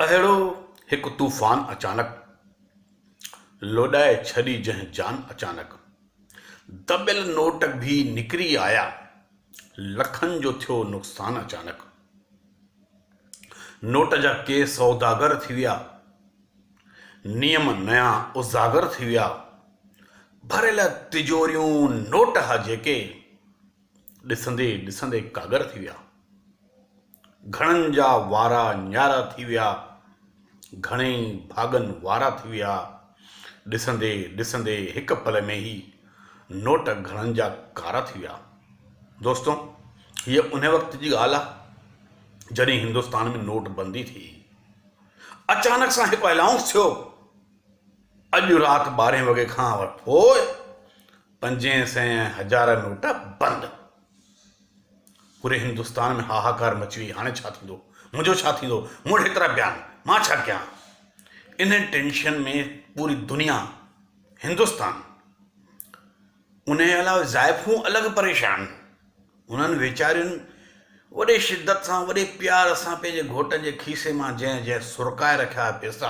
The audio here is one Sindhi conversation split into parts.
اهڙو هڪ طوفان اچانڪ، لوڏائي ڇڏي جنهن جان اچانڪ. دٻيل نوٽ ڀي نڪري آيا، لکن جو ٿيو نقصان اچانڪ. نوٽ جا ڪي سوداگر ٿي ويا، نيم نيان اجاگر ٿي ويا. ڀريل تجوريون نوٽ ها جيڪي، ڏسندي ڏسندي ڪاڳر ٿي ويا. گهڻن جا وارا نيارا ٿي ويا. گهڻئي ڀاڳن وارا ٿي ويا. ڏسندي ڏسندي هڪ پل ۾ هي نوٽ گهڻن جا ڪارا ٿي ويا. دوستو هيء انهيء وقت جي ڳالهه آهي جڏهن هندستان ۾ نوٽ بندي ٿي. اچانڪ سان هڪ الائونس ٿيو اڄ رات ٻارهين وڳي کان پوء پنجين سين ۽ هزار نوٽ بند. پوري هندستان ۾ هاهاڪار مچي وئي، هاڻي ڇا ٿيندو؟ منهنجو ڇا ٿيندو؟ مون وٽ هيترا پيا آهن، مان ڇا ڪيان؟ ان ٽينشن ۾ پوري دنيا، هندستان، انهيء علاوه زائفون الڳ پريشان. انهن ويچارين وڏي شدت سان، وڏي پيار سان پنهنجي گهوٽن جي کيسي مان جنهن جنهن سرڪائي رکيا ها پيسا،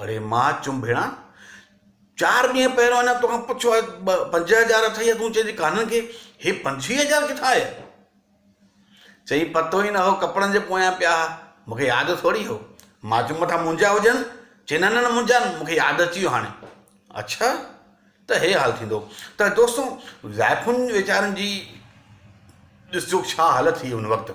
اڙي ماء چنڀيڻا چار ڏينهن پهريون اڃا توکان پڇيو آهي ٻه پنج هزار اٿئي يا تون چئين ٿي ڪانهن ڪي هي پنجويهه هزار ڪٿان آيا چئي پتو ئي نه هو ڪپڙن جي پويان پيا ها مونکي ياد ٿوري هو ماء چيم مٿا منهنجا هجن چئي نه نه منهنجا آهن مونکي ياد اچي ويو هاڻي اڇا ته هي حال ٿيندو ته دوستو زائفن ويچارن جي ڏسجو ڇا حالت ٿي هن وقت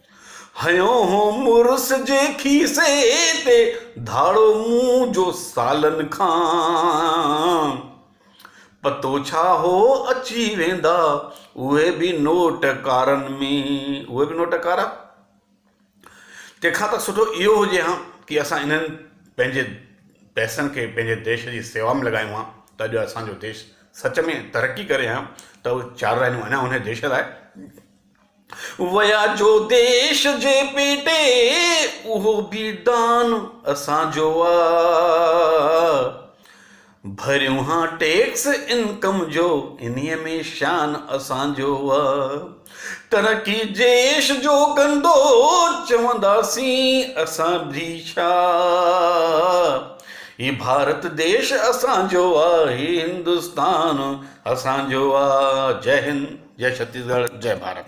هنيو هو مڙس جي کيسي تي ڌاڙو مون جو سالن کان پتو ڇا هو اچي ويندا اهي به نوٽ ڪارن ۾ اهي به نوٽ ڪارا تنهن کان ته سٺو اهو هجي ها ڪي اسان انهن پنهنجي پئسن کي پنهنجي ديش جي سيوا ۾ لڳايون ها ته اڄ اسان جو ديش سچ ۾ ترقي ڪري ها ته اهي چار رهنيون اڃا انهي ديش لاء ويا جو ديش جي پيٽي اهو به دان اسان جو آ ڀريون ها ٽيڪس انڪم جو انهي ۾ شان اسان جو آ ترقي ديش جو ڪندو چونداسين اسان به ڇا هي ڀارت ديش اسان جو آ هي هندستان اسان جو آ جئه هند جئه ڇتيس ڳڙهه جئه ڀارت.